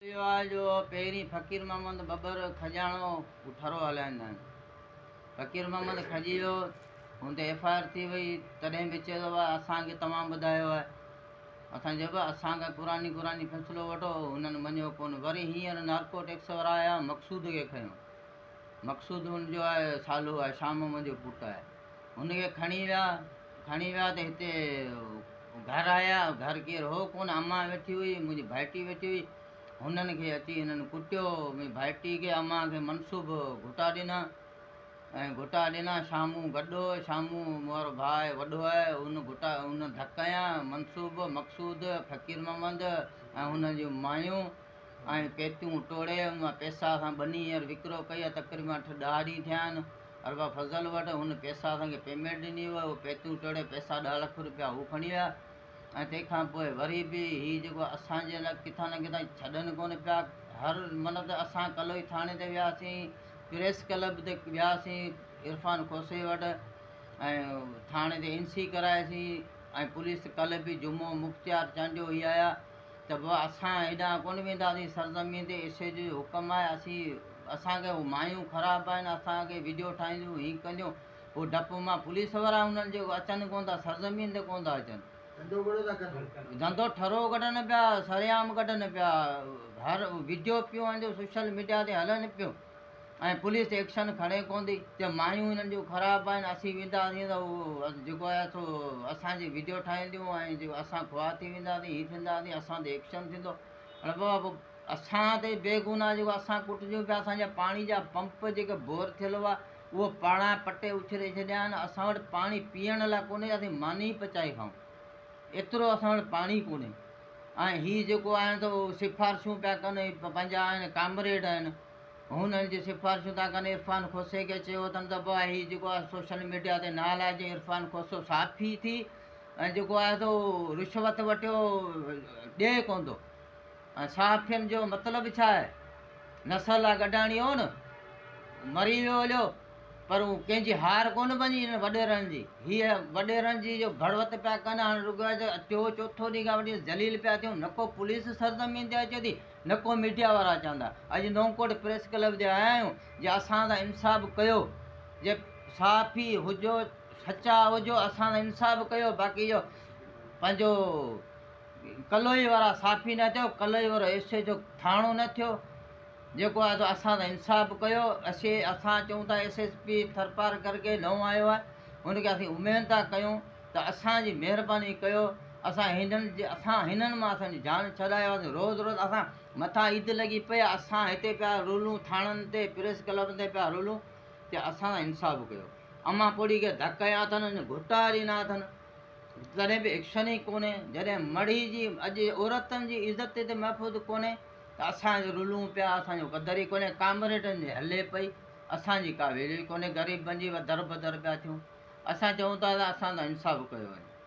اهو آهي جو پهرين فقير محمد ٻٻر کڄاڻو ٺرو هلائيندا آهن. فقير محمد کڄي ويو، هن تي ايف آء آر ٿي وئي، تڏهن به چئي ٿو ڀاء اسان کي توهان ٻڌايو آهي. اسان چيو ڀاء اسان کان قرآني قرآني فيصلو وٺو، هنن مڃيو ڪونه. وري هينئر نارڪو ٽيڪس وارا آيا، مقصود کي کنيو. مقصود ان جو آهي سالو آهي، شاهه محمد جو پٽ آهي. هن کي کڻي ويا، کڻي ويا ته هتي گهر آيا، گهر ڪير هو ڪونه، امان ويٺي هئي، منهنجي ڀائٽي ويٺي هئي، هنن کي اچي هنن ڪٽيو، منهنجي ڀائٽي کي امان کي منسوب گهوٽا ڏنا ۽ گهوٽا ڏنا، شامون گڏهو، شامون مورو ڀاء آهي وڏو آهي، هن گهوٽا هن ڌڪ هنيا، منسوب، مقصود، فقير محمد ۽ هنن جون مايون، ۽ پيتيون ٽوڙي ان مان پيسا سان ٻني هينئر وڪرو ڪئي ۽ تقريب مان اٺ ڏهه ڏينهن ٿيا آهن ارباب فضل وٽ هن پيسا اسان کي پيمينٽ ڏني هئي اهي پيتيون ٽوڙي پيسا ڏهه لک روپيا هو کڻي ويا ۽ تنهن کان پوء وري به هي جيڪو اسان جي لاء ڪٿان نه ڪٿان ڇڏن ڪونه پيا هر مطلب ته اسان ڪلوئي ٿاڻي تي وياسين پريس ڪلب تي وياسين عرفان کوسي وٽ ۽ ٿاڻي تي اين سي ڪرائيسين ۽ پوليس ڪلهه به جمعو مختيار چانڊيو هي آيا ته به اسان هيڏانهن ڪونه وينداسين سرزمين تي ايشور جو اهو حڪم آهي اسين اسان کي اهو مايون خراب آهن اسان کي ويڊيو ٺاهينديون هينئن ڪنديون هو ڊپ مان پوليس وارا هنن جو اچن ڪونه ٿا سرزمين تي ڪونه ٿا اچن ڌنڌو ٺرو ڪڍن پيا سرعام ڪڍن پيا هر ويڊيو پيون آهن جو سوشل ميڊيا تي هلن پيون ۽ پوليس ايڪشن کڻي ڪوندي ته مايون انهن جون خراب آهن اسين وينداسين ته هو جيڪو آهي سو اسان جي ويڊيو ٺاهينديون ۽ جيڪو اسان خوار ٿي وينداسين هي ٿينداسين اسان تي ايڪشن ٿيندو اڙي بابا پوء اسان تي بيگناهه جيڪو اسان ڪٽجون پيا اسان جا پاڻي جا پمپ جيڪي بور ٿيل هئا اهو پاڻا پٽي اڇلي ڇڏيا آهن اسان وٽ پاڻي پيئڻ لاء ڪونهي اسين ماني پچائي کائون ايترو اسان وٽ پاڻي ڪونهي ۽ هي جيڪو آهن سو سفارشون پيا ڪن پنهنجا آهن ڪامريڊ آهن هن ان جون سفارشون ٿا ڪن عرفان کوسي کي چيو اٿن ته بابا هي جيڪو آهي سوشل ميڊيا تي نه هلائجي عرفان کوسو صحافي ٿي ۽ جيڪو آهي سو رشوت وٽيو ڏئي ڪون ٿو ۽ صحافين جو مطلب ڇا آهي نسل آ گڏاڻي هو نه مري ويو هليو پر هو ڪنهنجي هار ڪون بنجي هن وڏيرن جي هيء وڏيرن جي جو ڀڙوت پيا ڪن هاڻي رڳو ٽيو چوٿو ڏينهن کان وٺي ذليل پيا ٿيون نڪو پوليس سرزمين تي اچي ٿي نڪو ميڊيا وارا چوندا اڄ نوڪوٽ پريس ڪلب جي آيا آهيون جي اسان سان انصاف ڪيو جي صحافي هجو سچا هجو اسان سان انصاف ڪيو باقي جو پنهنجو ڪلوئي وارا صحافي نه ٿيو ڪلوئي وارو ايس ايچ او ٿاڻو نه ٿيو جيڪو آيو سو اسان سان انصاف ڪيو اسي اسان چئون ٿا ايس ايس پي ٿرپارڪر کي نئون آيو آهي ان کي اسين اميد ٿا ڪيون ته اسان جي مهرباني ڪيو اسان هنن اسان هنن مان اسان جي جان ڇڏايو اسان روز روز اسان مٿان عيد لڳي پئي اسان هتي پيا رولون ٿاڻن تي پريس ڪلب تي پيا رولون ته اسان سان انصاف ڪيو امان پوڙهي کي ڌڪ هنيا اٿن ان گهوٽا ڏنا اٿن تڏهن به ايڪشن ئي ڪونهي جڏهن مڙهي جي اڄ عورتن جي عزت هتي محفوظ ڪونهي ته اسان رولون پيا اسان جو قدر ئي ڪونهي ڪامريڊن جي هلي پئي اسان جي ڪا ويليو ئي ڪونهي غريبن جي در بدر پيا ٿيون اسان چئون ٿا ته اسان سان انصاف ڪيو وڃي